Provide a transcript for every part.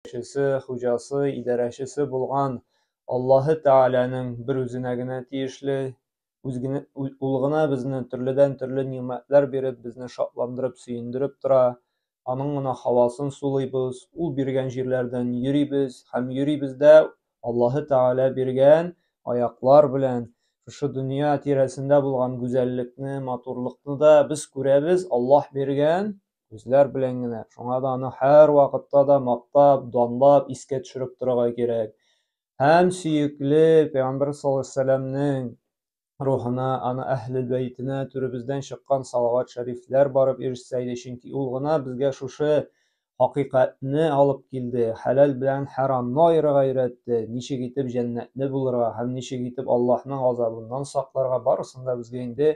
Эшчесе, хуҗасы, идарәчесе булган Аллаһы Тәгаләнең бер үзенә генә тиешле, үз генә, ул гына безне төрледән-төрле нигъмәтләр биреп, безне шатландырып, сөендереп тора. Аның гына һавасын сулыйбыз, ул биргән җирләрдән йөрибез һәм йөрибез дә Аллаһы Тәгалә биргән аяклар белән. Шушы дөнья тирәсендә булган гүзәллекне, матурлыкны да без күрәбез, Аллаһ биргән Үзләр белән генә. Шуңа да аны һәр вакытта да мактап, данлап, искә төшереп торырга кирәк. Һәм сөекле Пәйгамбәр саллаллаһу рухына, аны әһлел бәйтенә түребездән чыккан салават шәрифләр барып ирешсә иде, чөнки ул гына безгә шушы хакыйкатьне алып килде, хәләл белән хәрамны аерырга өйрәтте, ничек итеп җәннәтле булырга һәм ничек итеп Аллаһның газабыннан сакларга барысын да безгә инде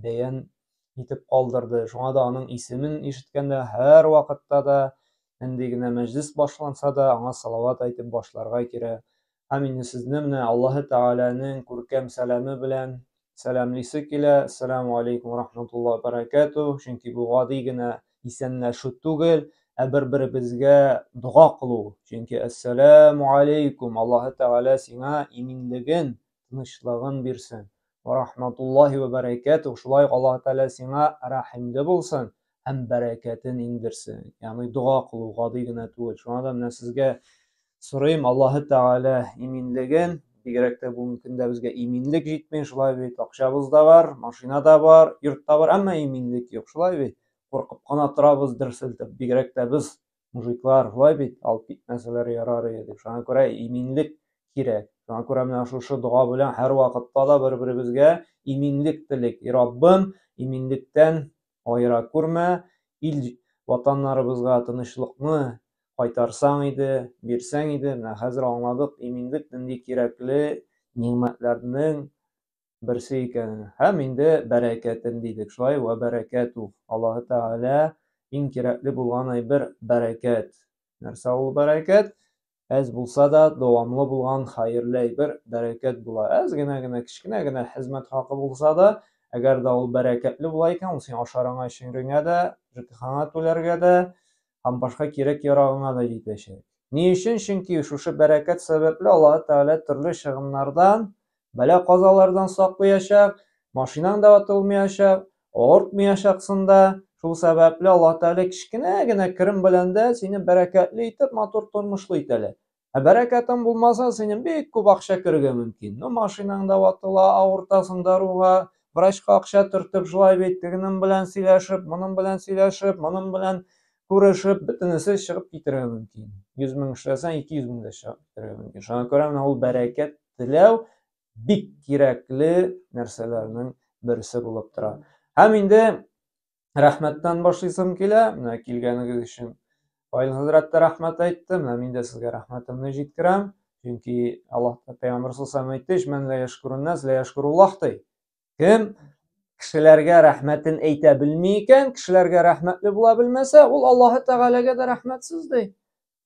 бәян итеп калдырды. Шуңа да аның исемен ишеткәндә һәр вакытта да нинди генә мәҗлис башланса да аңа салават әйтеп башларга кирәк. Һәм инде сезне менә Аллаһы Тәгаләнең күркәм сәламе белән сәламлисе килә. Ассаламу алейкум ва рахматуллаһи ва баракату. Чөнки бу гади генә исәнләшү түгел, ә бер-беребезгә дога кылу. Чөнки ассаламу алейкум, Аллаһы Тәгалә сиңа иминлеген, тынычлыгын бирсен. Ва рахматуллахи ва бәрәкәтү, шулай ук Аллаһ Тәгалә сиңа рәхимле булсын һәм бәрәкәтен иңдерсен. Ягъни дога кылу гади генә түгел. Шуңа да менә сезгә сорыйм, Аллаһ Тәгалә иминлеген, бигрәк тә бүгенге көндә безгә иминлек җитми, шулай бит, акчабыз да бар, машина да бар, йорт та бар, әмма иминлек юк, шулай бит. Куркып кына торабыз дер селтеп, бигрәк тә без мужиклар шулай бит алып китмәсәләр ярар иде дип шуңа күрә иминлек кирәк шуңа күрә менә шушы дога белән һәрвакытта да бер беребезгә иминлек телик и раббым иминлектән аера күрмә ил ватаннарыбызга тынычлыкны кайтарсаң иде бирсәң иде менә хәзер аңладык иминлек нинди кирәкле нигъмәтләрнең берсе икәнен. Һәм инде бәрәкәтен дидек. Шулай вә бәрәкәтү. Аллаһы Тәгалә иң кирәкле булган әйбер бәрәкәт. Нәрсә ул бәрәкәт? Әз булса да, дәвамлы булган хәерле әйбер бәрәкәт була. Әз генә генә, кечкенә генә хезмәт хакы булса да, әгәр дә ул бәрәкәтле була икән, ул син ашарыңа, эчереңә дә, ЖКХңа түләргә дә, һәм башка кирәк-ярагыңа да җитәчәк. Ни өчен? Чөнки шушы бәрәкәт сәбәпле Аллаһы Тәгалә төрле чыгымнардан, бәла-казалардан саклыячак, машинаң да ватылмыячак, авыртмыячаксың да. Шул сәбәпле Аллаһы Тәгалә кечкенә генә керем белән дә сине бәрәкәтле итеп, матур тормышлы итәләр. Ә бәрәкәтең булмаса, синең бик күп акча керергә мөмкин. Ну, машинаң да ватыла, авыртасың даруга, врачка акча төртеп, шулай бит, тегенең белән сөйләшеп, моның белән сөйләшеп, моның белән күрешеп, бөтенесе чыгып китергә мөмкин. 100 мең эшләсәң, 200 мең дә чыгып китергә мөмкин. Шуңа күрә менә ул бәрәкәт теләү бик кирәкле нәрсәләрнең берсе булып тора. Һәм инде рәхмәттән башлыйсым килә. Менә килгәнегез өчен Фаил хәзрәт тә рәхмәт әйтте. Менә мин дә сезгә рәхмәтемне җиткерәм. Чөнки Аллаһ Пәйгамбәр саллаллаху әйтте, "Мен ла яшкурун нас, ла яшкуруллаһ" ди. Кем кешеләргә рәхмәтен әйтә белми икән, кешеләргә рәхмәтле була белмәсә, ул Аллаһ Тәгаләгә дә рәхмәтсез ди.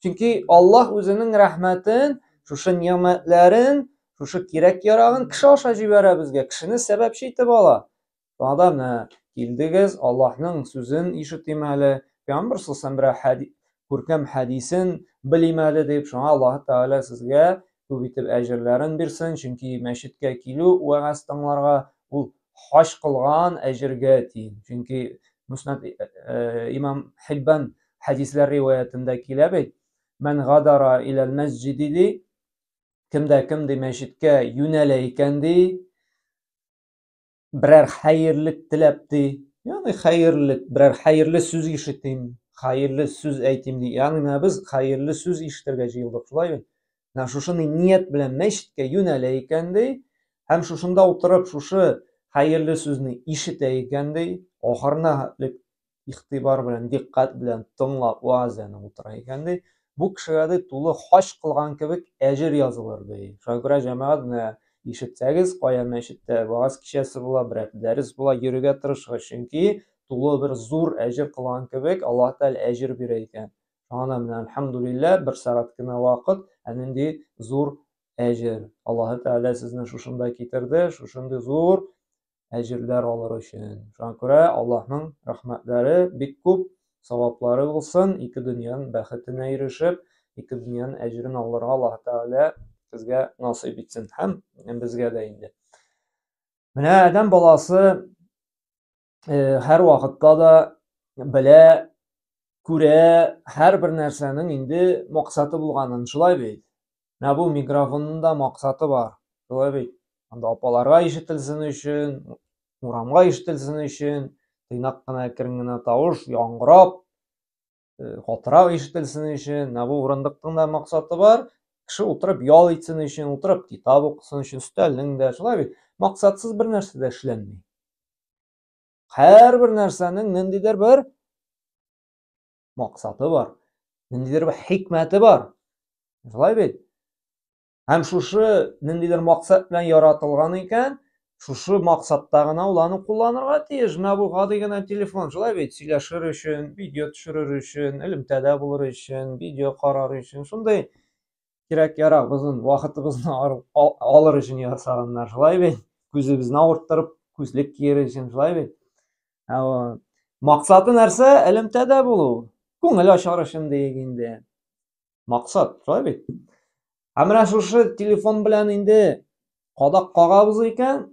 Чөнки Аллаһ үзенең рәхмәтен, шушы нигъмәтләрен, шушы кирәк-ярагын кеше аша җибәрә безгә, кешене сәбәпче итеп ала. Вәгъдәне килдегез, Аллаһның сүзен ишетим әле, Пәйгамбәр саллаллаһу күркәм хәдисен белим әле дип, шуңа Аллаһ Тәгалә сезгә күп итеп әҗерләрен бирсен, чөнки мәчеткә килү, вәгазь тыңларга ул хаҗ кылган әҗергә тиң. Чөнки Муснад э, э, имам Хиббан хәдисләр риваятендә килә бит. Мән гадара иләл мәсҗиди ди. Кемдә кем ди мәчеткә юнәлә икән ди. Берәр хәерлек теләп ди. Ягъни хәерлек, берәр хәерле сүз ишетим, хәерле сүз әйтим ди. Ягъни менә без хәерле сүз ишетергә җыелдык, шулай бит? Менә шушы ният белән мәчеткә юнәлә икән ди. Һәм шушында утырып, шушы хәерле сүзне ишетә икән ди. Ахырына игътибар белән, диккать белән тыңлап вәгазь янып утыра икән ди, бу кешегә ди тулы хаҗ кылган кебек әҗер язылыр ди. Шуңа күрә җәмәгать менә ишетсәгез, кая мәчеттә вәгазь кичәсе була, берәр дәрес була, йөрергә тырышыгыз, чөнки тулы бер зур әҗер кылган кебек Аллаһ Тәгалә әҗер бирә икән. Шуңа менә әлхәмдулилләһ, бер сәгать кенә вакыт, әнинди зур әҗер. Аллаһ Тәгалә сезне шушында китерде, шушындый зур әҗерләр алыр өчен. Шуңа күрә Аллаһның рәхмәтләре бик күп, саваплары булсын, ике дөньяның бәхетенә ирешеп, ике дөньяның әҗерен алырга Аллаһ Тәгалә безгә насыйп итсен һәм безгә дә инде. Менә Адәм баласы э, һәр вакытта да белә, күрә, һәр бер нәрсәнең инде максаты булганын, шулай бит. Менә бу микрофонның да максаты бар. Шулай бит. Анда апаларга ишетелсен өчен, урамга ишетелсен өчен, тыйнак кына әкрен генә тавыш яңгырап, катырак ишетелсен өчен. Менә бу урындыкның да максаты бар. Кеше утырып ял итсен өчен, утырып китап укысын өчен, өстәлнең дә. Шулай бит. Максатсыз бер нәрсә дә эшләнми. Һәрбер нәрсәнең ниндидер бер максаты бар, ниндидер бер хикмәте бар. Шулай бит? Һәм шушы ниндидер максат белән яратылган икән, шушы максатта гына ул аны кулланырга тиеш. Менә бу гади генә телефон, шулай бит? Сөйләшер өчен, видео төшерер өчен, элемтәдә булыр өчен, видео карар өчен, шундый кирәк ярак озын вакытыбызны алыр өчен ясаганнар шулай бит күзебезне авырттырып күзлек киер өчен шулай бит максаты нәрсә элемтәдә булу күңел ачар өчен диек инде максат шулай бит ә менә шушы телефон белән инде кадак кагабыз икән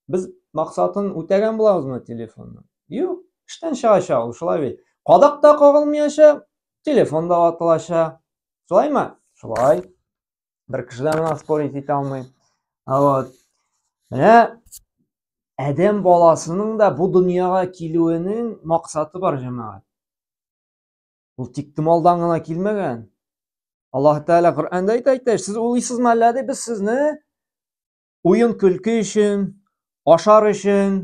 Без максатын үтәгән булабызмы телефонның? Юк, эштән чыгачак ул, шулай бит. Кадак та кагылмаячак, телефон да ватылачак. Шулаймы? Шулай. Бер кеше дә моңа спорить итә алмый. Вот. Менә адәм баласының да бу дөньяга килүенең максаты бар, җәмәгать. Ул тик томалдан гына килмәгән. Аллаһ Тәгалә Коръәндә әйтә, сез улыйсызмы әллә ди, без сезне уен-көлке өчен, ашар өчен,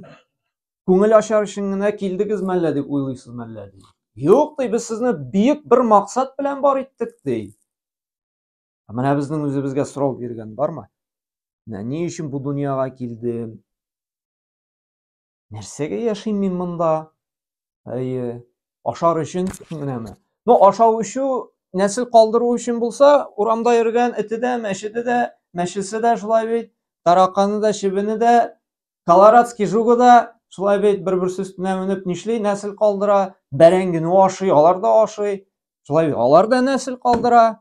күңел ачар өчен генә килдегез мәллә дип уйлыйсыз мәллә ди. Юк ди, без сезне бөек бер максат белән бар иттек ди. Ә менә безнең үзебезгә сорау биргән бармы? Менә ни өчен бу дөньяга килдем? Нәрсәгә яшим мин монда? Әйе, ашар өчен генәме? Ну, ашау эчү, нәсел калдыру өчен булса, урамда йөргән эте дә, мәчете дә, мәчесе дә шулай бит, тараканы да, чебене дә, колорадский жугы да шулай бит бер-берсе өстенә менеп нишли, нәсел калдыра, бәрәңгене ашый, алар да ашый, шулай бит, алар да нәсел калдыра.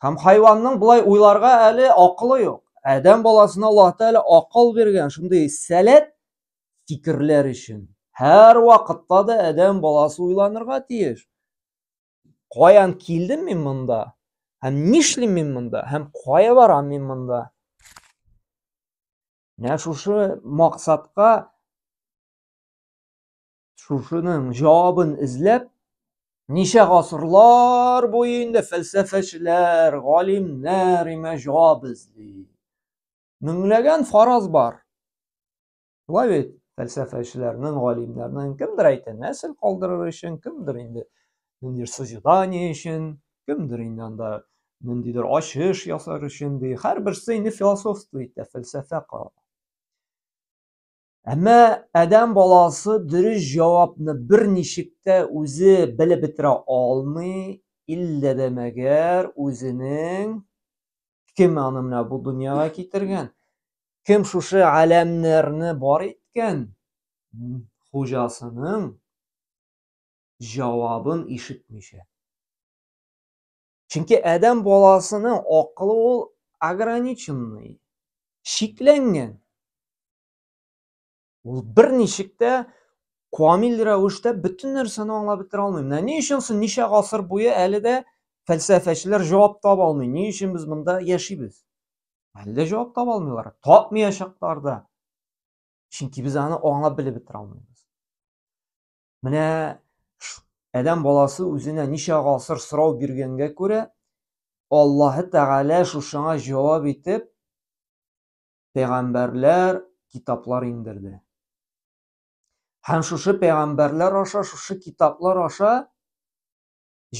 Һәм хайванның болай уйларга әле акылы юк. Адәм баласына Аллаһ Тәгалә акыл биргән шундый сәләт фикерләр өчен. Һәр вакытта да адәм баласы уйланырга тиеш. Каян килдем мин монда? Һәм нишлим мин монда? Һәм кая барам мин монда? Менә шушы максатка Шушының җавабын эзләп, ничә гасырлар буе инде фәлсәфәчеләр, галимнәр имә җавап эзли. Меңләгән фараз бар. Шулай бит, фәлсәфәчеләрнең, галимнәрнең кемдер әйтә, нәсел калдырыр өчен, кемдер инде ниндидер созидание өчен, кемдер инде анда ниндидер ачыш ясар өчен ди. Һәрберсе инде философство итә, фәлсәфә кыла. Әмма адәм баласы дөрес җавапны берничек тә үзе белеп бетерә алмый, иллә дә мәгәр үзенең кем аны менә бу дөньяга китергән, кем шушы аләмнәрне бар иткән хуҗасының җавабын ишетмичә. Чөнки адәм баласының акылы ул ограниченный, шикләнгән. Ул берничек тә камил рәвештә бөтен нәрсәне аңлап бетерә алмый. Менә ни өчен соң ничә гасыр буе әле дә фәлсәфәчеләр җавап таба алмый. Ни өчен без монда яшибез? Әле дә җавап таба алмыйлар. Тапмаячаклар да. Чөнки без аны аңлап белеп бетерә алмыйбыз. Менә адәм баласы үзенә ничә гасыр сорау биргәнгә күрә, Аллаһы Тәгалә шушыңа җавап итеп пәйгамбәрләр, китаплар иңдерде. Һәм шушы пәйгамбәрләр аша, шушы китаплар аша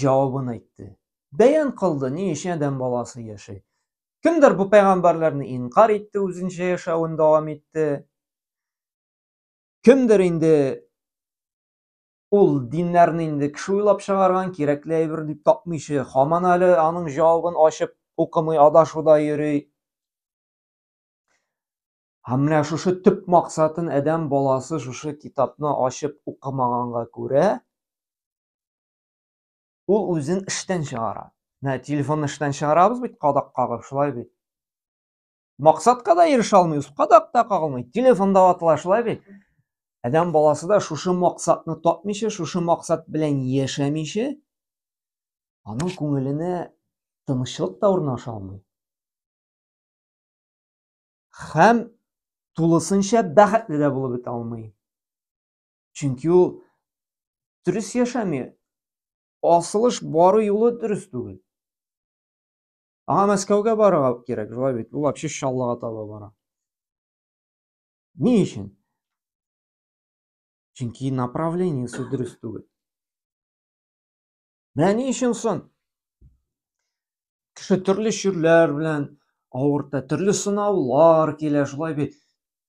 җавабын әйтте. Бәян кылды, ни өчен адәм баласы яши. Кемдер бу пәйгамбәрләрне инкар итте, үзенчә яшәвен дәвам итте. Кемдер инде ул диннәрне инде кеше уйлап чыгарган, кирәкле әйбер дип тапмыйчы, хаман әле аның җавабын ачып укымый, адашуда йөри. Һәм менә шушы төп максатын адәм баласы шушы китапны ачып укымаганга күрә, ул үзен эштән чыгара. Менә телефонны эштән чыгарабыз бит, кадак кагып, шулай бит. Максатка да ирешә алмый, кадак та кагылмый. Телефонда ватыла шулай бит. Адәм баласы да шушы максатны тапмыйча, шушы максат белән яшәмичә, аның күңеленә тынычлык та урнаша алмый. Хәм тулысынча бәхетле дә булып бетә алмый. Чөнки ул дөрес яшәми. Асылыш бару юлы дөрес түгел. Аңа Мәскәүгә барырга кирәк, шулай бит. Ул вообще Чаллыга таба бара. Ни өчен? Чөнки направлениесе дөрес түгел. Менә ни өчен сон? Кеше төрле чирләр белән авырта, төрле сынаулар килә, шулай бит.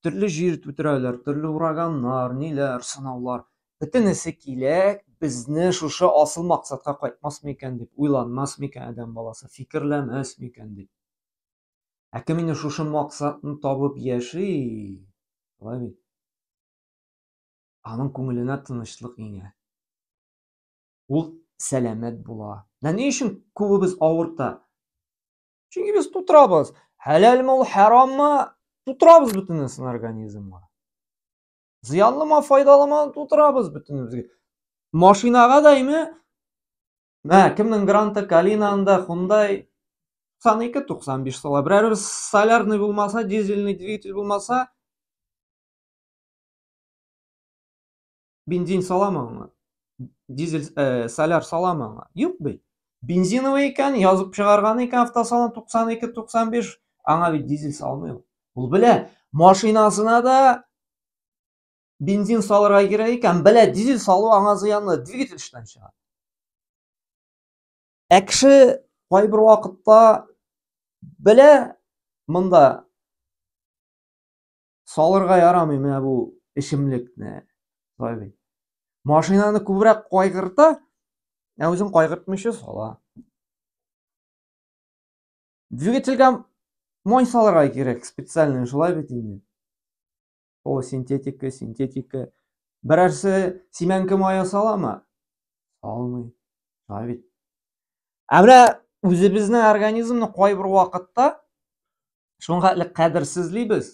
төрле җир түтәрәләр, төрле ураганнар, ниләр, сынаулар. Бөтенесе килә, безне шушы асыл максатка кайтмас микән дип, уйланмас микән адәм баласы, фикерләмәс микән дип. Ә кем инде шушы максатны табып яши, шулай бит. Аның күңеленә тынычлык иңә. Ул сәламәт була. Менә ни өчен күбебез авырта? Чөнки без тутырабыз. Хәләлме ул, хараммы? Тутырабыз бөтенесен организмга. Зыянлымы, файдалымы? Тутырабыз бөтенебезгә. Машинага дәйме? Мә, кемнең гранты Калина анда, Hyundai 92-95 сала. Берәр солярный булмаса, дизельный двигатель булмаса, бензин саламы аңа? Дизель, э, соляр саламы аңа? Юк бит. Бензиновый икән, язып чыгарган икән автосалон 92-95, аңа бит дизель салмый ул. Ул белә, машинасына да бензин салырга кирәк икән, белә, дизель салу аңа зыянлы, двигатель эштән чыга. Ә кеше кайбер вакытта белә, монда Салырга ярамый менә бу эчемлекне. Шулай бит. Машинаны күбрәк кайгырта, ә үзен кайгыртмыйча сала. Двигательгә май салырга кирәк специальный, шулай бит инде. Ул синтетика, синтетика. Берәрсе симәнке мая саламы? Салмый. Шулай бит. ә менә үзебезнең организмны кайбер вакытта шуңа элек кадерсезлибез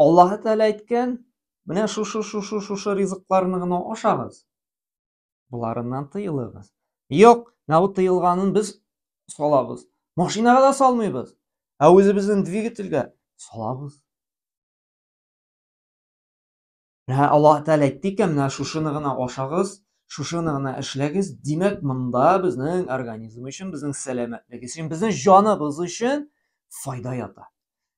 аллаһ тәғәлә әйткән менә шушы шушы шушы ризыкларны гына ашагыз боларыннан тыелыгыз юк менә бу тыелганын без салабыз машинага да салмыйбыз ә үзебезнең двигательгә салабыз Ә Аллаһ Тәгалә әйтте икән, менә шушыны гына ашагыз, шушыны гына эшләгез. Димәк, монда безнең организм өчен, безнең сәламәтлек өчен, безнең җаныбыз өчен файда ята.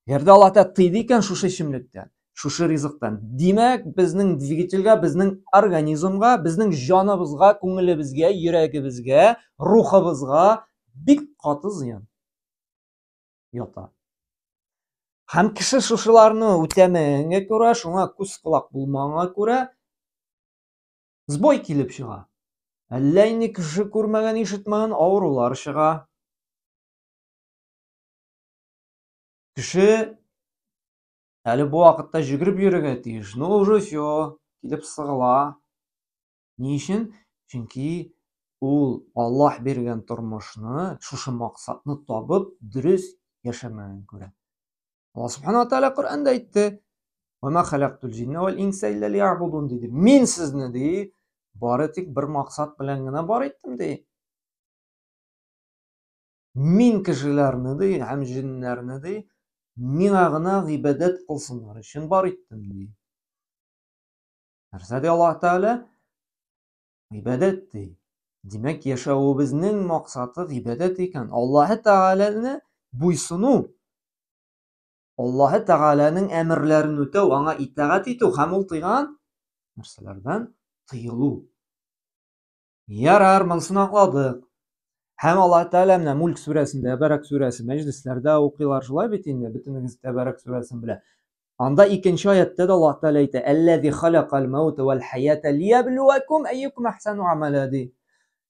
Әгәр дә Аллаһ Тәгалә тыйды икән шушы эчемлектән, шушы ризыктан, димәк, безнең двигательгә, безнең организмга, безнең җаныбызга, күңелебезгә, йөрәгебезгә, рухыбызга бик каты зыян. ята. Һәм кеше шушыларны үтәмәгәнгә күрә, шуңа күз колак булмаганга күрә сбой килеп чыга. Әллә инде кеше күрмәгән, ишетмәгән авырулар чыга. Кеше әле бу вакытта җөгереп йөрергә тиеш. Ну уже все, килеп сыгыла. Ни өчен? Чөнки ул Аллаһ биргән тормышны, шушы максатны табып, дөрес яшәмәген күрә. Аллаһ Субхану ва Тааля Коръәндә әйтте: "Ва ма халактул җинна вал инса илля лиябудун" диде. Мин сезне ди, бары тик бер максат белән генә бар иттем ди. Мин кешеләрне ди һәм җиннәрне ди, миңа гына гыйбадәт кылсыннар өчен бар иттем ди. Нәрсә ди Аллаһ Тәгалә? Гыйбадәт ди. Димәк, яшәвебезнең максаты гыйбадәт икән. Аллаһ Тәгаләне буйсыну, Аллаһ Тәгаләнең әмерләрен үтәү, аңа итагать итү һәм ул тыйган нәрсәләрдән тыелу. Ярар, монысын аңладык. Һәм Аллаһ Тәгалә менә Мүлк сүрәсендә, Тәбәрәк сүрәсе, мәҗлесләрдә укыйлар шулай бит инде, бөтенегез Тәбәрәк сүрәсен белә. Анда икенче аятта да Аллаһ Тәгалә әйтә, «Әлләзи халакал мәүта вәл хаята лиябилүәкум әйюкум әхсану амәлә» ди.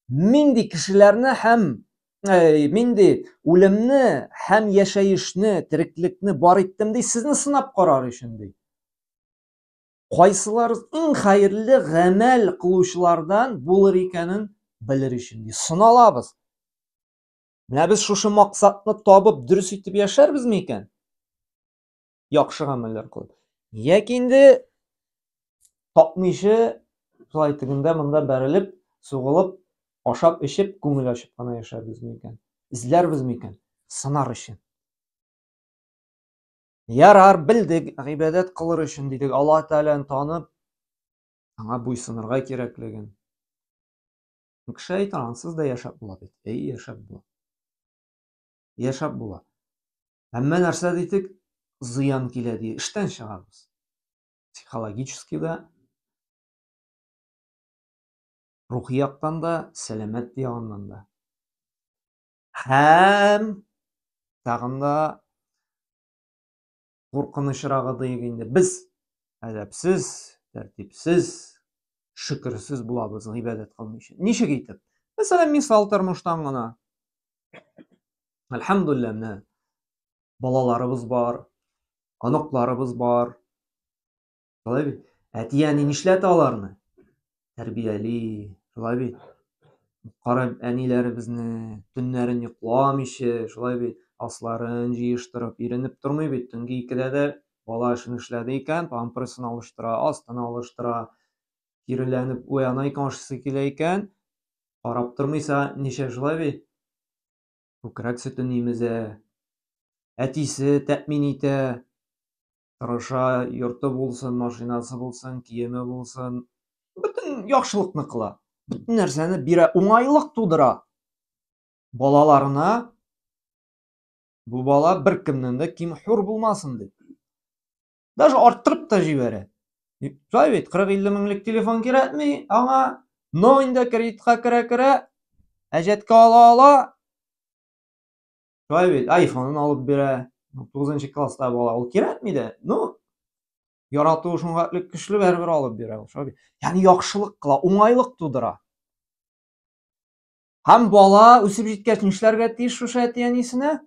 Мин ди кешеләрне һәм э, мин ди үлемне һәм яшәешне, тереклекне бар иттем ди, сезне сынап карар өчен ди. кайсылар иң хәерле гамәл кылучылардан булыр икәнен белер өчен ди сыналабыз менә без шушы максатны табып дөрес итеп яшәрбезме икән яхшы гамәлләр кылып яки инде тапмыйча шулай тегендә монда бәрелеп сугылып ашап эчеп күңел ачып кына яшәрбезме икән эзләрбезме икән сынар өчен Ярар, белдек, гыйбадәт кылыр өчен дидек, Алла Тәгаләне танып, аңа буйсынырга кирәклеген. Кеше әйтер, ансыз да яшәп була бит. Әй, яшәп була. Яшәп була. Әмма нәрсә дидек, зыян килә ди, эштән чыгабыз. Психологически да, рухи яктан да, сәламәт ягыннан да. һәм тагын да куркынычрагы диек инде без әдәпсез тәртипсез шөкерсез булабыз гыйбадәт кылмыйча ничек итеп мәсәлән мисал тормыштан гына әлхәмдулилла менә балаларыбыз бар оныкларыбыз бар Шулай бит. Әти-әни нишләтә аларны? Тәрбияли. Шулай бит. Кара әниләребезне төннәрен йокламыйча, шулай бит, асларын җыештырып, иренеп тормый бит. Төнге икедә дә бала эшен эшләде икән, памперсын алыштыра, астын алыштыра, киреләнеп уяна икән, ашысы килә икән, карап тормыйса, ничә шулай бит? Күкрәк сөтен имезә, әтисе тәэмин итә, тырыша, йорты булсын, машинасы булсын, киеме булсын, бөтен яхшылыкны кыла. Бөтен нәрсәне бирә, уңайлык тудыра. Балаларына бу бала бер кемнән дә ким хур булмасын дип. Даже арттырып та җибәрә. Шулай бит, 40-50 меңлек телефон кирәкми, аңа но инде кредитка керә-керә, әҗәткә ала-ала, шулай бит айфонын алып бирә тугызынчы класста бала ул кирәкми дә ну яратуы шуңа көчле бәребер алып бирә ул шулай ягъни яхшылык кыла уңайлык тудыра һәм бала үсеп җиткәч нишләргә тиеш шушы әти әнисенә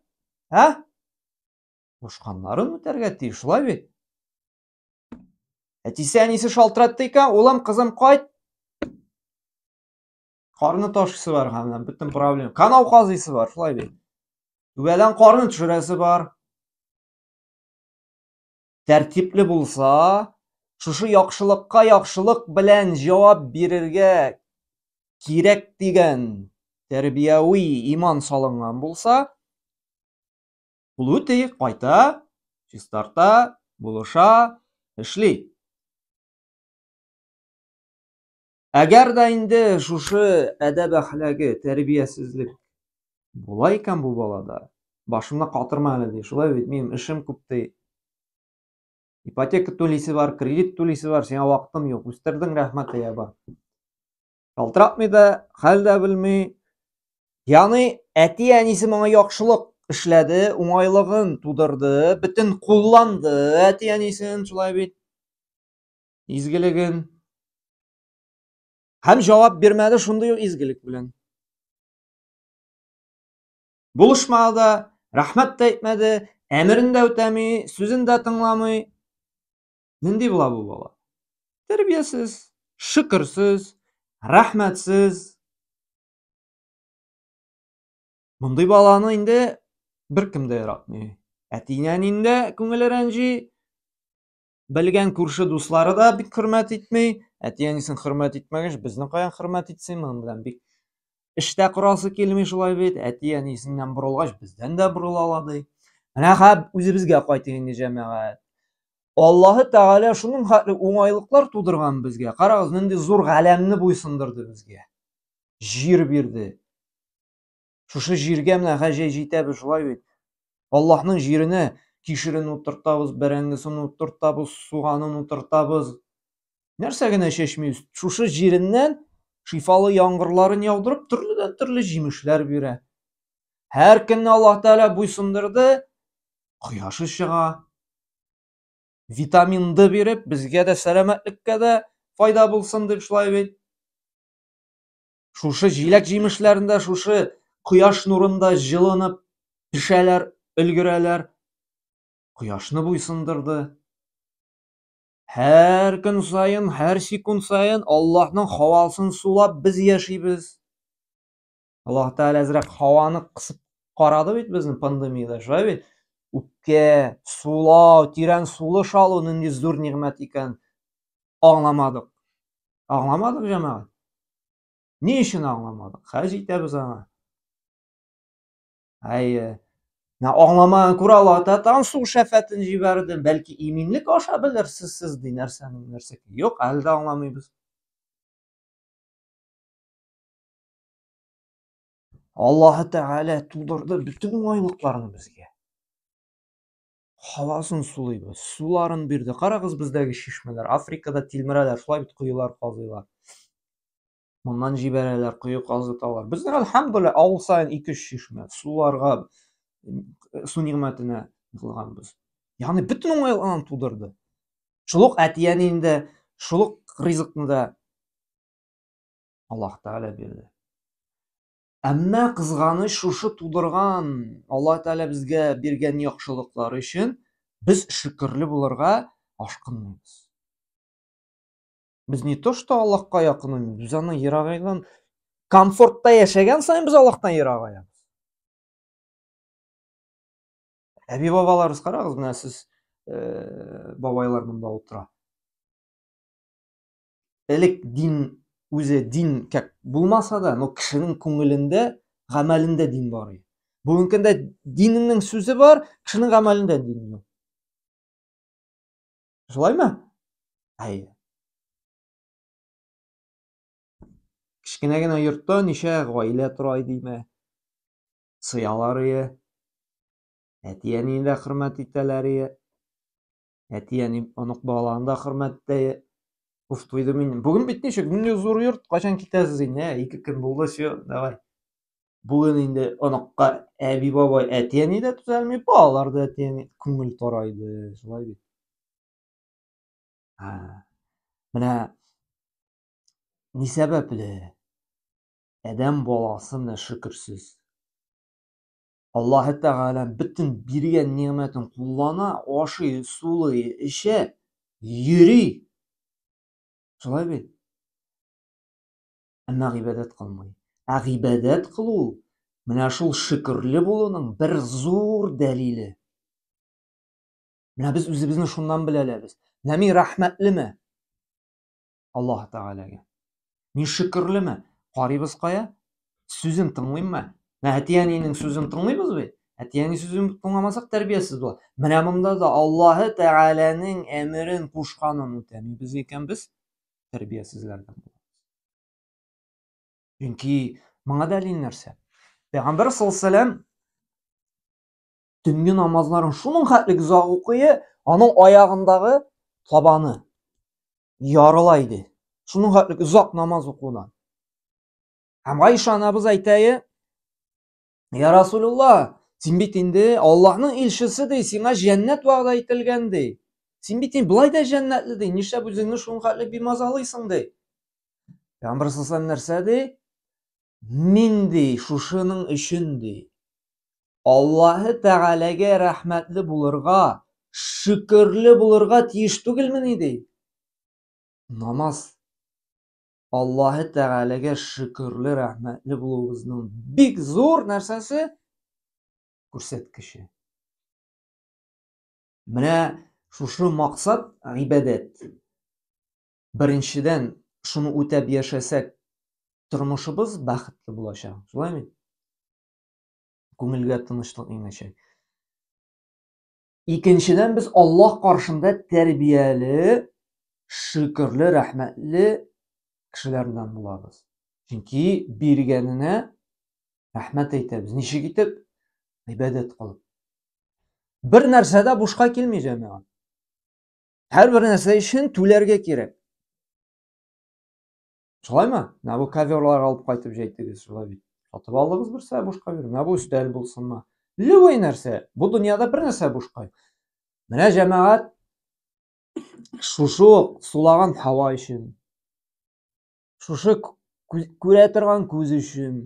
ә кушканнарын үтәргә тиеш шулай бит әтисе әнисе шалтыратты икән улым кызым кайт Карны ташысы бар һәм бөтен проблем. Канау казыйсы бар, шулай бит. Түбәдән карны төшерәсе бар. Тәртипле булса, шушы яхшылыкка яхшылык белән җавап бирергә кирәк дигән тәрбияви иман салынган булса, Плутый кайта, чистарта, булыша, эшли. Әгәр дә инде шушы әдәб әхләге, тәрбиясезлек була икән бу балада, башымны катырма әле ди. Шулай бит, минем эшем күп ди. Ипотека түлисе бар, кредит түлисе бар, сиңа вакытым юк. Үстердең рәхмәт ия бар. Шалтыратмый да, хәл дә белми. Яны әти әнисе моңа яхшылык эшләде, уңайлыгын тудырды, бөтен кулланды әти әнисен, шулай бит. изгелеген һәм җавап бирмәде шундый ук изгелек белән булышмады да рәхмәт тә әйтмәде әмерен дә үтәми сүзен дә тыңламый нинди була бу бала тәрбиясез шөкерсез рәхмәтсез мондый баланы инде беркем дә яратмый әти әнинең дә күңеле рәнҗи Белгән күрше дуслары да бик хөрмәт итми. Әти-әнисен хөрмәт итмәгәч, безне каян хөрмәт итсен? Моның белән бик эштә корасы килми шулай бит. Әти-әнисеннән борылгач, бездән дә борыла ала ди. Менә хәп үзебезгә кайтыйк инде җәмәгать. Аллаһы Тәгалә шуның хәтле уңайлыклар тудырган безгә. Карагыз, нинди зур галәмне буйсындырды безгә. Җир бирде. Шушы җиргә менә гаҗәй җитәбез шулай бит. Аллаһның җиренә кишерен утыртабыз, бәрәңгесен утыртабыз, суганын утыртабыз. Нәрсә генә чәчмибез. Шушы җиреннән шифалы яңгырларын яудырып, төрледән төрле җимешләр бирә. Һәр көнне Аллаһ Тәгалә буйсындырды, кояшы чыга. Витамин D биреп, безгә дә сәламәтлеккә дә файда булсын дип шулай бит. Шушы җиләк-җимешләрендә шушы кояш нурында җылынып пешәләр, өлгерәләр. Кояшны буйсындырды. Һәр көн саен, һәр секунд саен Аллаһның хавасын сулап без яшибез. Аллаһ Тәгалә әзрәк хаваны кысып карады бит безне пандемиядә, шулай бит? Үпкә, сулау, тирән сулыш алу нинди зур нигъмәт икән. Аңламадык. Аңламадык, җәмәгать. Ни өчен аңламадык? Хәзер җитәбез аңа. Әйе. Менә аңламаган күрә ала татан су шәфәтен җибәрде. Бәлки иминлек аша белерсез сез ди нәрсәнең нәрсә. Юк, әле дә аңламыйбыз. Аллаһы Тәгалә тудырды бөтен уңайлыкларны безгә. Һавасын сулыйбыз, суларын бирде. Карагыз бездәге чишмәләр, Африкада тилмерәләр, шулай бит коелар казыйлар. Моннан җибәрәләр, кое казыталар. Безнең әлхәмдуллә авыл саен 2-3 чишмә суларга су нигъмәтенә кылганбыз. Ягъни бөтен уңайлыгын тудырды. Шул ук әтияне инде, шул ук ризыкны да Аллаһ Тәгалә бирде. Әмма кызганыч шушы тудырган Алла Тәгалә безгә биргән яхшылыклар өчен без шөкерле булырга ашкынмыйбыз. Без не то что Аллаһка якынаймыз, без аны ерагайдан комфортта яшәгән саен без Аллаһтан ерагаябыз. Әби бабаларыбыз карагыз, менә сез бабайлар монда утыра. элек дин үзе дин как булмаса да, но кешенең күңелендә, гамәлендә дин бар иде. Бүгенге көндә диннең сүзе бар, кешенең гамәлендә дин юк. Шулаймы? Әйе. Кечкенә генә йортта ничә гаилә тора идеме? Сыялар ие. Әти-әнине дә хөрмәт итәләр ие. Әти, әни, онык балаларны да хөрмәттә Уф, туйдым инде. Бүген бит ничек? Менә зур йорт, кайчан китәсез инде? Ә, ике көн булды, все, давай. Бүген инде оныкка әби бабай әти әни дә төзәлми, балалар да әти әни күңел тарайды, шулай бит. Ә, менә ни сәбәпле? Адәм баласы менә шөкерсез. Аллаһы Тәгалә бөтен биргән нигъмәтен куллана, ашый, сулый, эчә, йөри. Шулай бит. Әмма гыйбадәт кылмый. Ә гыйбадәт кылу менә шул шөкерле булуның бер зур дәлиле. Менә без үзебезне шуннан беләләбез. Менә мин рәхмәтлеме? Аллаһ Тәгаләгә. Мин шөкерлеме? Карыйбыз кая? Сүзен тыңлыйммы? Менә әти-әнинең сүзен тыңлыйбыз бит. Әти-әни сүзен тыңламасак тәрбиясез була. Менә монда да Аллаһ Тәгаләнең әмерен кушканын үтәмибез икән без тәрбиясезләрдән булабыз. Чөнки моңа дәлил нәрсә? Пәйгамбәр саллаллаһу төнге намазларын шуның хәтлек озак укые, аның аягындагы табаны ярыла иде. Шуның хәтлек озак намаз укудан. Һәм Гайша анабыз әйтәе, Я Расулулла, син бит инде Аллаһның илчесе ди, сиңа җәннәт вәгъдә ителгән ди. Син бит инде былай да җәннәтле ди, нишләп үзеңне шуның хәтлек бимазалыйсың ди. Пәйгамбер нәрсә ди? Мин, ди, шушының өчен, ди, Аллаһы Тәгаләгә рәхмәтле булырга, шөкерле булырга тиеш түгелмени, ди? Намаз Аллаһы Тәгаләгә шөкерле, рәхмәтле булуыбызның бик зур нәрсәсе? Күрсәткече. Менә шушы максат гыйбадәт. Беренчедән, шуны үтәп яшәсәк, тормышыбыз бәхетле булачак. Шулай бит? Күңелгә тынычлык иңәчәк. Икенчедән, без Аллаһ каршында тәрбияле, шөкерле, рәхмәтле кешеләрдән булабыз. Чөнки биргәненә рәхмәт әйтәбез. Ничек итеп? Гыйбадәт кылып. Бер нәрсә дә бушка килми, җәмәгать. Һәр бер нәрсә өчен түләргә кирәк. Шулаймы? Менә бу коверлар алып кайтып җәйтегез, шулай бит. Сатып алдыгыз берсә бушка бир. Менә бу өстәл булсынмы? Любой нәрсә. Бу дөньяда бер нәрсә бушка. Менә җәмәгать шушы сулаган һава өчен, шушы күрә торган күз өчен.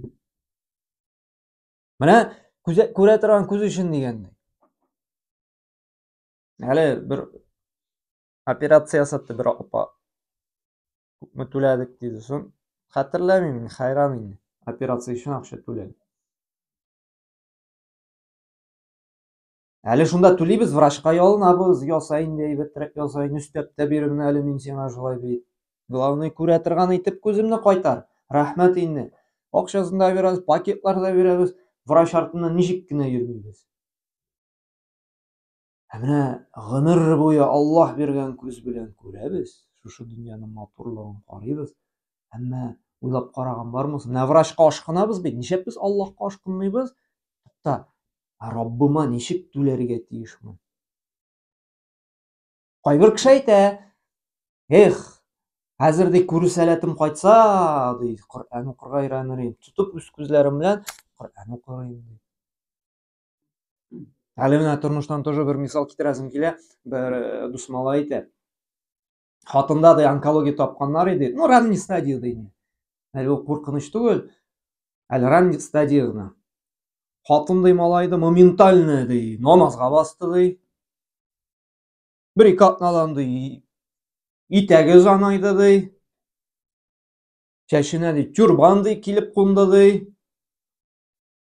Менә күрә торган күз өчен дигәнне. Әле бер операция ясатты бер апа. Күпме түләдек диде. Сон хәтерләмим, хәйран инде. Операция өчен акча түләдек. Әле шунда түлибез, врачка ялынабыз, яса инде, әйбәтрәк яса инде, өстәп тә бир менә әле мин сиңа шулай бит. Главный күрә торган итеп күземне кайтар. Рәхмәт инде. Акчасын да бирәбез, пакетлар да бирәбез. Врач артыннан ничек кенә йөрмибез. Ә менә гомер буе Аллаһ биргән күз белән күрәбез, шушы дөньяның матурлыгын карыйбыз. Әмма уйлап караган бармы? Менә врачка ашкынабыз бит, ничек без Аллаһка ашкынмыйбыз? Тукта, Раббыма ничек түләргә тиешмен? Кайбер кеше әйтә, Эх, хәзер ди күрү сәләтем кайтса, ди, Коръән укырга өйрәнер идем. Тотып үз күзләрем белән Коръән укырым ди. Әле менә тормыштан тоже бер мисал китерәсем килә. Бер э, дус малай әйтә. Хатында да онкология тапканнар иде. Ну, ранний стадия ди. Әле ул куркыныч түгел. Әле ранний стадия гына. Хатын ди малай да моментально ди, намазга басты ди. Бер ике атнадан ди, итәге занайды ди. Чәченә ди, тюрбан ди, килеп кунды ди.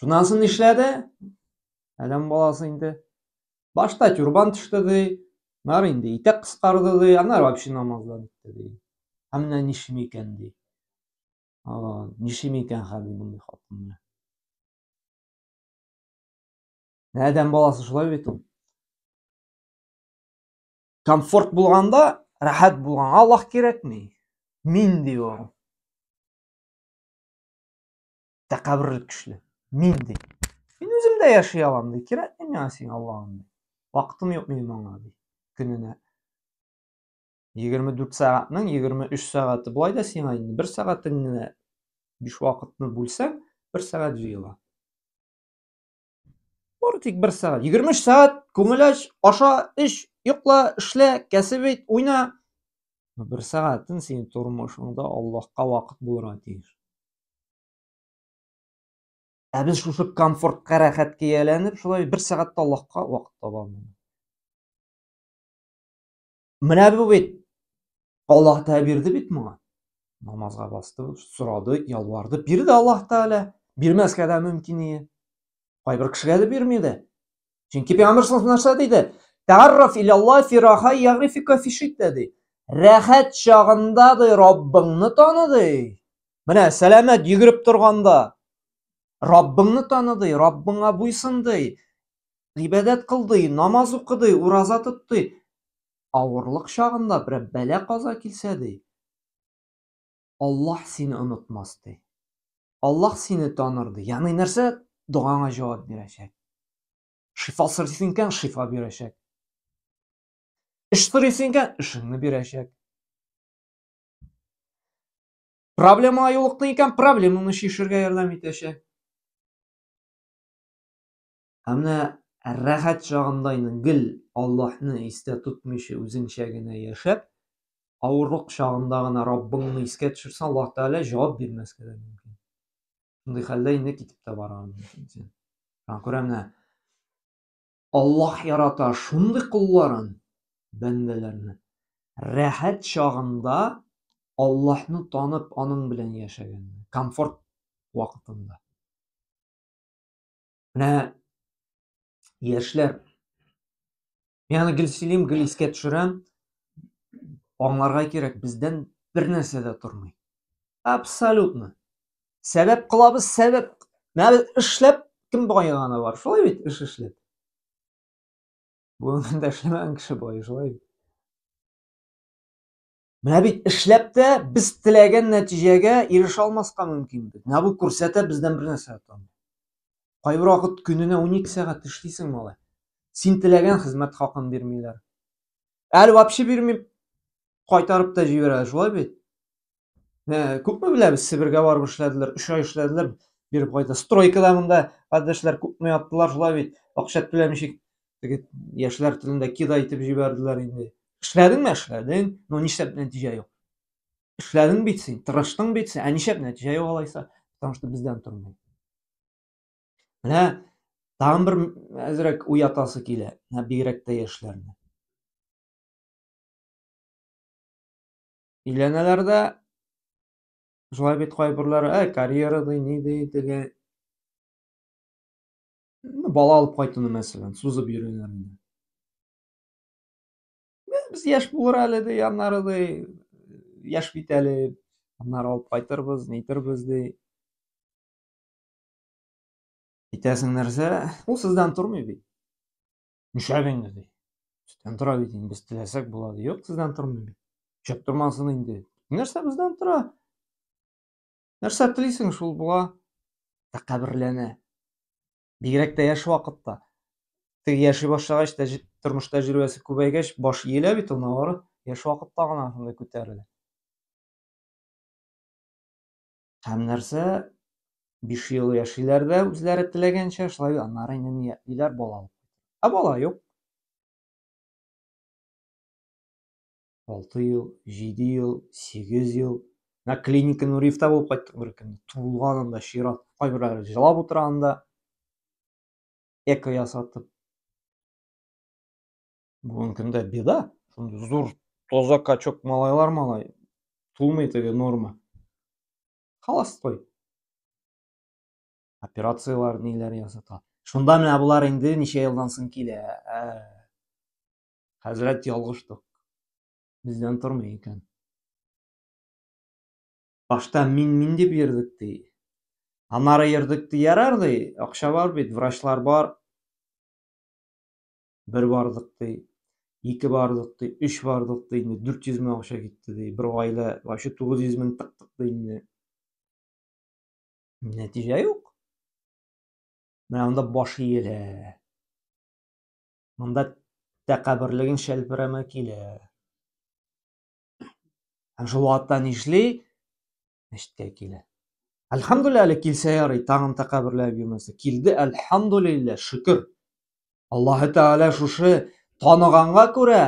Шуннан соң нишләде? Адәм баласы инде. Башта тюрбан төште ди, нар инде итәк кыскарды ди, аннары вообще намаздан итте ди. Ә менә ничем икән ди. Ага, ничем икән хәл мондый хатын менә. Адәм баласы шулай бит ул. Комфорт булганда, рәхәт булганга Аллаһ кирәкми. Мин ди ул. тәкәбберлек көчле. Мин ди. Мин үзем дә яши алам ди. Кирәкми миңа син Аллаһым ди. Вакытым юк минем аңа ди. Көненә 24 сәгатьнең 23 сәгате болай да сиңа инде бер сәгатеңне биш вакытны бүлсәң, бер сәгать җыела. Бары тик бер сәгать. 23 сәгать күңел ач, аша, эш, йокла, эшлә, кәсеп ит, уйна. Бер сәгатен син тормышыңда Аллаһка вакыт булырга тиеш. Ә без шушы комфортка рәхәт кияләнеп, шулай бер сәгатьтә Аллаһка вакыт табамыз. Менә бу бит. Аллаһ Тәгалә бирде бит моңа. Намазга басты, сорады, ялварды, бирде Аллаһ Тәгалә. Бирмәскә дә мөмкин иде. Кайбер кешегә дә бирми иде. Чөнки Пәйгамбер саллаллаһу нәрсә диде? Тәгарраф ил Аллаһ фи раха ягрифика фи шидда ди. Рәхәт чагында ди Раббыңны таны ди. Менә сәламәт йөгереп торганда, Раббыңны таныды, Раббыңа буйсынды, гыйбадәт кылды, намаз укыды, ураза тотты. Авырлык чагында бер бәлә каза килсә ди, Аллаһ сине онытмас ди. Аллаһ сине таныр ди. Ягъни нәрсә? Догаңа җавап бирәчәк. Шифа сорыйсың икән, шифа бирәчәк. Эш сорыйсың икән, эшеңне бирәчәк. Проблемага юлыктың икән, проблеманы чишергә ярдәм итәчәк. Ә менә рәхәт чагында инде гел Аллаһны истә тотмыйча үзеңчә генә яшәп, авырлык чагында гына Раббыңны искә төшерсәң, Аллаһ Тәгалә җавап бирмәскә дә мөмкин. Шундый хәлдә инде китеп тә барырга мөмкин син. Күрәм, менә Аллаһ ярата шундый колларын, бәндәләрне. Рәхәт чагында Аллаһны танып, аның белән яшәгәнне, комфорт вакытында. Менә яшьләр, мин аны гел сөйлим, гел искә төшерәм, аңларга кирәк, бездән бер нәрсә дә тормый. Абсолютно. сәбәп кылабыз сәбәп менә без эшләп кем байыганы бар шулай бит эш эшләп бүгенгәндә эшләмәгән кеше байый шулай бит менә бит эшләп тә без теләгән нәтиҗәгә ирешә алмаска мөмкин бит менә бу күрсәтә бездән бер нәрсә кайбер вакыт көненә унике сәгать эшлисең малай син теләгән хезмәт хакын бирмиләр әле вообще бирми кайтарып та җибәрә шулай бит Ә, күпме беләбез, Себергә барып эшләделәр, өч ай эшләделәр, биреп кайта. Стройкада монда кардәшләр күпме яттылар шулай бит. Акча түләмичек, теге яшьләр телендә кида итеп җибәрделәр инде. Эшләдеңме? Эшләдең. Ну, нишләп нәтиҗә юк? Эшләдең бит син, тырыштың бит син. Ә нишләп нәтиҗә юк алайса? Потому что бездән тормый. Менә тагын бер әзрәк уятасы килә. Менә бигрәк тә яшьләрне. Өйләнәләр дә шулай бит кайберләре, ә карьера ди, ни ди, теге ну, бала алып кайтуны мәсәлән, сузып йөриләр инде. Без яшь булыр әле ди, аннары ди, яшь бит әле, аннары алып кайтырбыз, нейтербез ди. Әйтәсең нәрсә? Ул сездән тормый бит. Нишләп инде ди. Сездән тора бит инде, без теләсәк була ди. Юк, сездән тормый бит. Шәп тормасын инде. Нәрсә бездән тора? Нәрсә телисең, шул була. Тәкәберләнә. Бигрәк тә яшь вакытта. Теге яши башлагач, тәҗ... тормыш тәҗрибәсе күбәйгәч, баш иелә бит ул авыр. Яшь вакытта гына шунда күтәрелә. Һәм нәрсә? Биш ел яшиләр дә үзләре теләгәнчә, шулай аннары инде ниятлиләр бала алып. Ә бала юк. Алты ел, җиде ел, сигез ел. Мә клиника Нуриевта булып кайттык бер көнне. Туылган анда чират. Кайберләре жылап утыра анда. Эко ясатып. бүгінгі күнде беда зор тозақ качок малайлар малай тумай тебе норма холостой операциялар ниләр ясата шунда менә болар инде ничә елдан соң килә ә, хәзрәт ялгыштык бездән тормый икән башта мин мин дип йөрдек ди анары йөрдек ди ярар ди акча бар бит врачлар бар бер бардык ди ике бардык ди үч бардык ди инде дүрт йөз мең акча китте ди бер гаилә вообще тугыз йөз мең тыктык ди инде нәтиҗә юк менә анда баш иелә монда тәкәберлеген шәлперәмә килә һәм шул вакытта нишли мәчеткә килә. Әлхәмдулилла әле килсә ярый, тагын тәкәберләп йөрмәсә. Килде, әлхәмдулилла, шөкер. Аллаһы Тәгалә шушы таныганга күрә,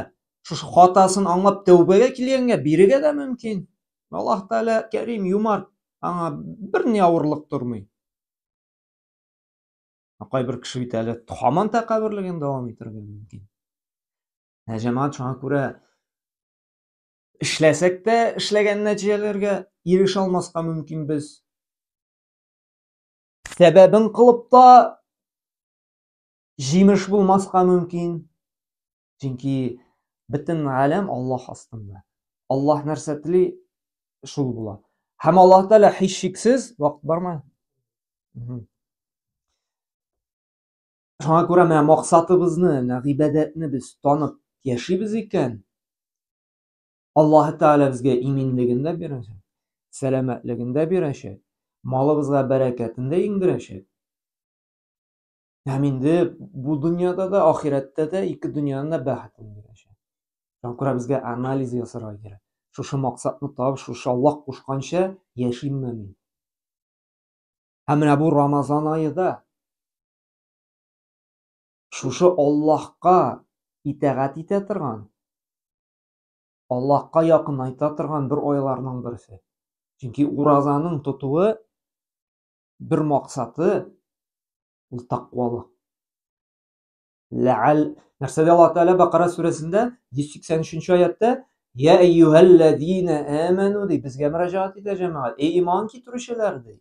шушы хатасын аңлап тәүбәгә килгәнгә бирегә дә мөмкин. Аллаһ Тәгалә Кәрим, юмарт, аңа бер ни авырлык тормый. Кайбер кеше бит әле хаман тәкәберлеген дәвам итәргә мөмкин. Ә җәмәгать шуңа күрә Эшләсәк тә эшләгән нәтиҗәләргә ирешә алмаска мөмкин без. Сәбәбен кылып та җимеш булмаска мөмкин. Чөнки бөтен галәм Аллаһ астында. Аллаһ нәрсә тели, шул була. Һәм Аллаһ Тәгалә һичшиксез вакыт бармы? Шуңа күрә менә максатыбызны, менә гыйбадәтне без танып яшибез икән, Аллаһ Тәгалә безгә иминлеген дә бирәчәк, сәламәтлеген дә бирәчәк, малыбызга бәрәкәтен дә иңдерәчәк. Һәм инде бу дөньяда да, ахирәттә дә, ике дөньяның да бәхетен бирәчәк. Шуңа күрә безгә анализ ясарга кирәк. Шушы максатны табып, шушы Аллаһ кушканча яшимме мин? Һәм менә бу Рамазан аеда Шушы Аллаһка итәгать итә торган, Аллаһка якынайта торган бер айларның берсе. Чөнки уразаның тотуы бер максаты ул тәкъвалык. Ләал нәрсәдә Аллаһ Тәгалә Бакара сүрәсендә 183 аятта Я әйюһәлләзина әмәну ди, безгә мөрәҗәгать итә җәмәгать. Эй иман китерүчеләр ди.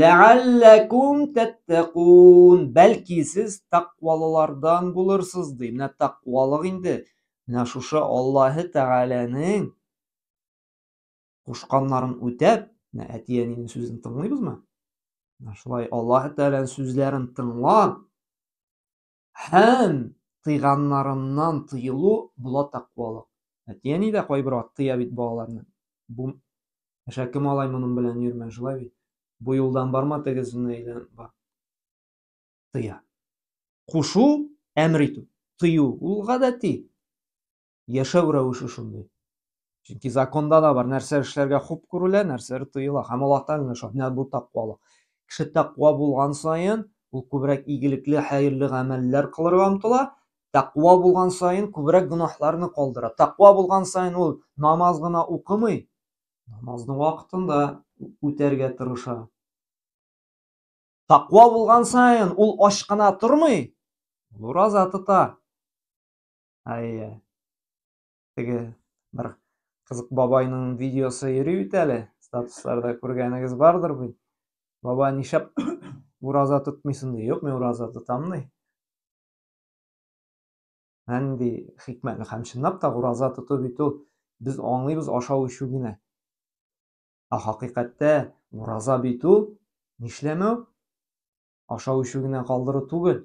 Ләалләкум тәттәкун. Бәлки сез тәкъвалылардан булырсыз ди. Менә тәкъвалык инде. Менә шушы Аллаһы Тәгаләнең кушканнарын үтәп, менә әти-әнинең сүзен тыңлыйбызмы? Менә шулай Аллаһы Тәгаләнең сүзләрен тыңлап, һәм тыйганнарыннан тыелу була тәкъвалык. Әти-әни дә кайбер вакыт тыя бит балаларны. Бу әшәке малай моның белән йөрмә, шулай бит. Бу юлдан барма, тегезенә әйләнеп бар. Тыя. Кушу, әмер итү, тыю ул гадәти. яшәү рәвеше шундый. Чөнки законда да бар, нәрсә эшләргә хуп күрелә, нәрсәләр тыела. Һәм Аллаһтан гына шат, менә бу тәкъвалык. Кеше тәкъва булган саен, ул күбрәк игелекле, хәерле гамәлләр кылырга омтыла. Тәкъва булган саен күбрәк гөнаһларны калдыра. Тәкъва булган саен ул намаз гына укымый, намазны вакытында үтәргә тырыша. Тәкъва булган саен ул ач кына тормый, ул ураза тота. Әйе. Теге бер кызык бабайның видеосы йөри бит әле. Статусларда күргәнегез бардыр бит. Баба нишап ураза тотмыйсың ди. Юк, мин ураза тотам ди. Нинди хикмәтле һәм чынлап та ураза тоту бит ул без аңлыйбыз ашау эчү генә. Ә хакыйкатьтә ураза бит ул нишләмәү, ашау эчү генә калдыру түгел.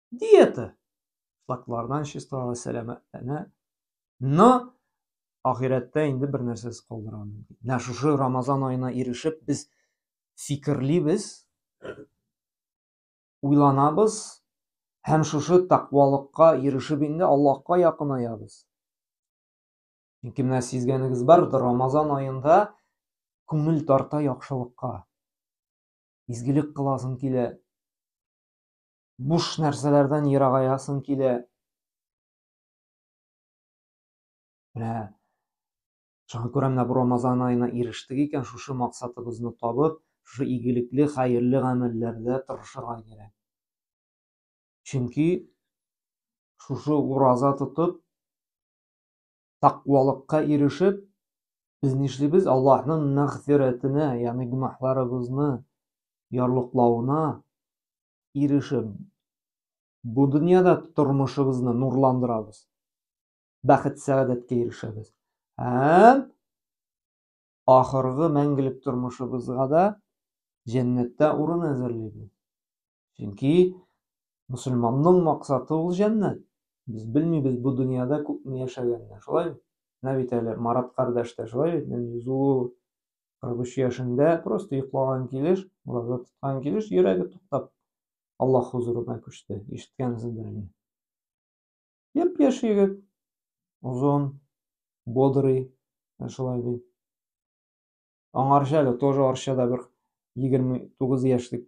Диета! Флаклардан чисталары сәламәтләнә. Но ахирәттә инде бер нәрсәсез калдыра мөмкин. Менә шушы Рамазан аена ирешеп без фикерлибез, уйланабыз һәм шушы тәкъвалыкка ирешеп инде Аллаһка якынаябыз. Чөнки менә сизгәнегез бар, Рамазан аенда күңел тарта яхшылыкка. Изгелек кыласың килә. Буш нәрсәләрдән ерагаясың килә. Менә шуңа күрә менә бу Рамазан аена ирештек икән, шушы максатыбызны табып, шушы игелекле, хәерле гамәлләрдә тырышырга кирәк. Чөнки шушы ураза тотып, тақвалыкка ирешеп, без нишлибез? Аллаһның мәгъфирәтенә, ягъни гөнаһларыбызны ярлыклавына ирешеп, бу дөньяда тормышыбызны нурландырабыз. Бәхет-сәгадәткә ирешәбез. Һәм ахыргы мәңгелек тормышыбызга да җәннәттә урын әзерлибез. Чөнки мусульманның максаты ул җәннәт. Без белмибез бу дөньяда күпме яшәгәнне, шулай бит? Менә бит әле Марат кардәш тә шулай бит, нәни зур 43 яшендә просто йоклаган килеш, ураза тоткан килеш йөрәге туктап Аллаһ хузурына күчте. Ишеткәнсездер инде. Япь-яшь егет, озын, бодрый, шулай ди. Аңарча әле тоже арчада бер 29 яшьлек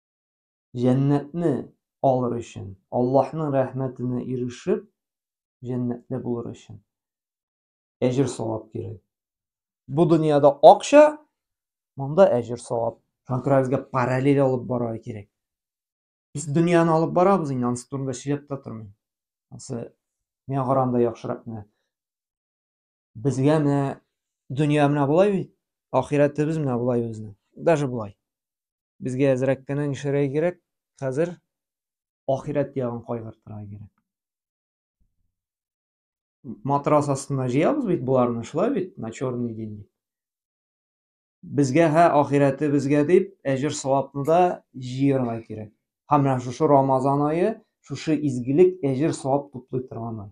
Җәннәтне алыр өчен, Аллаһның рәхмәтенә ирешеп, җәннәтле булыр өчен әҗер савап кирәк. Бу дөньяда акча, монда әҗер савап. Шуңа күрә безгә параллель алып барырга кирәк. Без дөньяны алып барабыз инде, анысы турында сөйләп тә тормыйм. Анысы миңа караганда яхшырак менә. Безгә менә дөнья менә болай бит, ахирәтебез менә болай безнең. Даже болай. Безгә әзрәк кенә нишләргә кирәк? Хәзер ахирәт ягын кайгыртырга кирәк. Матрас астына җыябыз бит боларны, шулай бит, на черный день. Безгә һә ахирәтебезгә дип әҗер савапны да җыярга кирәк. Һәм менә шушы Рамазан ае шушы изгелек әҗер савап туплый торган ай.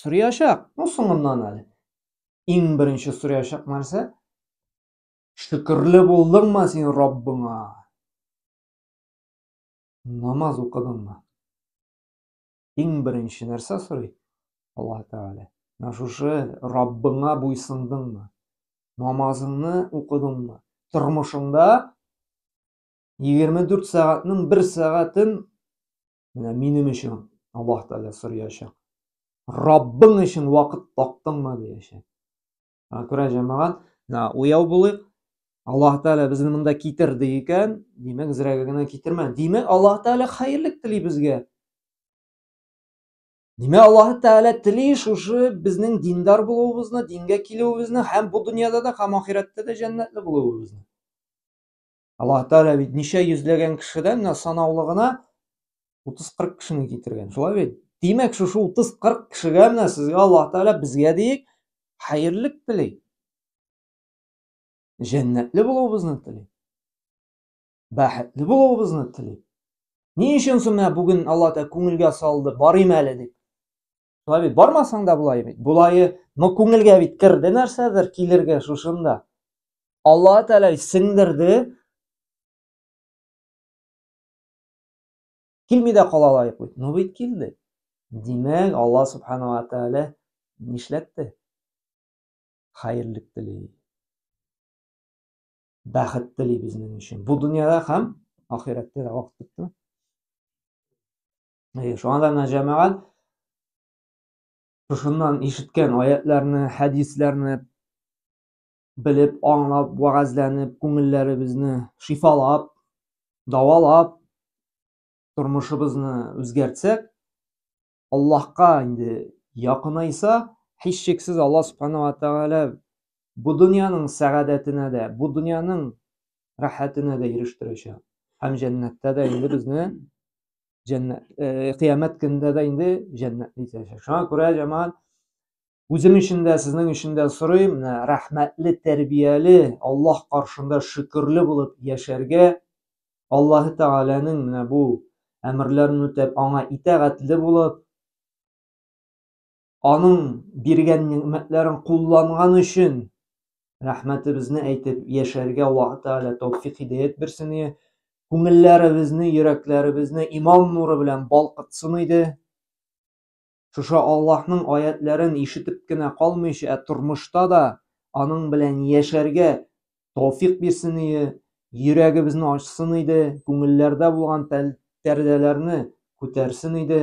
Сорыячак. Ну соңыннан әле. Иң беренче сорыячак нәрсә? Шөкерле булдыңмы син Раббыңа? Намаз укыдыңмы? Иң беренче нәрсә сорый Аллаһ Тәгалә. Менә шушы Раббыңа буйсындыңмы? Намазыңны укыдыңмы? Тормышыңда 24 сәгатьнең бер сәгатен Менә минем өчен Аллаһ Тәгалә сораячак. Раббың өчен вакыт таптыңмы дияшәк. Аңа күрә җәмәгать, менә уяу булыйк. Аллаһ Тәгалә безне монда китерде икән, димәк, зрәгә генә китермә. Димәк, Аллаһ Тәгалә хәерлек тели безгә. Димәк, Аллаһ Тәгалә тели шушы безнең диндар булуыбызны, дингә килүебезне һәм бу дөньяда да, һәм ахирәттә дә җәннәтле булуыбызны. Аллаһ Тәгалә бит ничә йөзләгән кешедән санаулы гына 30-40 кешене китергән. Шулай бит? Димәк, шушы 30-40 кешегә менә сезгә Аллаһ Тәгалә безгә диек хәерлек тели. Җәннәтле булуыбызны тели. Бәхетле булуыбызны тели. Ни өчен соң менә бүген Аллаһ Тәгалә күңелгә салды, барыйм әле дип. Шулай бит, бармасаң да болай бит. Болайы, но күңелгә бит керде нәрсәдер килергә шушында. Алла Тәгалә сеңдерде. Килми дә кала лаек бит. Ну бит килде. Димәк, Алла Субханала Тәгалә нишләтте? Хәерлек тели. Бәхет тели безнең өчен. Бу дөньяда һәм ахирәттә дә вакыт бетте. Әйе, шуңа да менә җәмәгать шушыннан ишеткән аятларны, хәдисләрне белеп, аңлап, вәгазьләнеп, күңелләребезне шифалап, давалап, тормышыбызны үзгәртсәк, Аллаһка инде якынайса, һичшиксез Аллаһ Субхану ва Тәгалә бу дөньяның сәгадәтенә дә, бу дөньяның рәхәтенә дә ирештерәчәк. Һәм җәннәттә дә инде безне җәннәт э, кыямәт көнендә дә инде җәннәтне итәчәк шуңа күрә җәмәгать үзем өчен дә сезнең өчен дә сорыйм менә рәхмәтле тәрбияле аллаһ каршында шөкерле булып яшәргә аллаһы тәгаләнең менә бу әмерләрен үтәп аңа итәгатьле булып аның биргән нигъмәтләрен кулланган өчен рәхмәтебезне әйтеп яшәргә Аллаһ Тәгалә тәүфик хидәят бирсен иде. Күңелләребезне, йөрәкләребезне иман нуры белән балкытсын иде. Шушы Аллаһның аятларын ишетеп кенә калмыйча, ә тормышта да аның белән яшәргә тәүфик бирсен иде. Йөрәгебезне ачсын иде, күңелләрдә булган пәрдәләрне күтәрсен иде.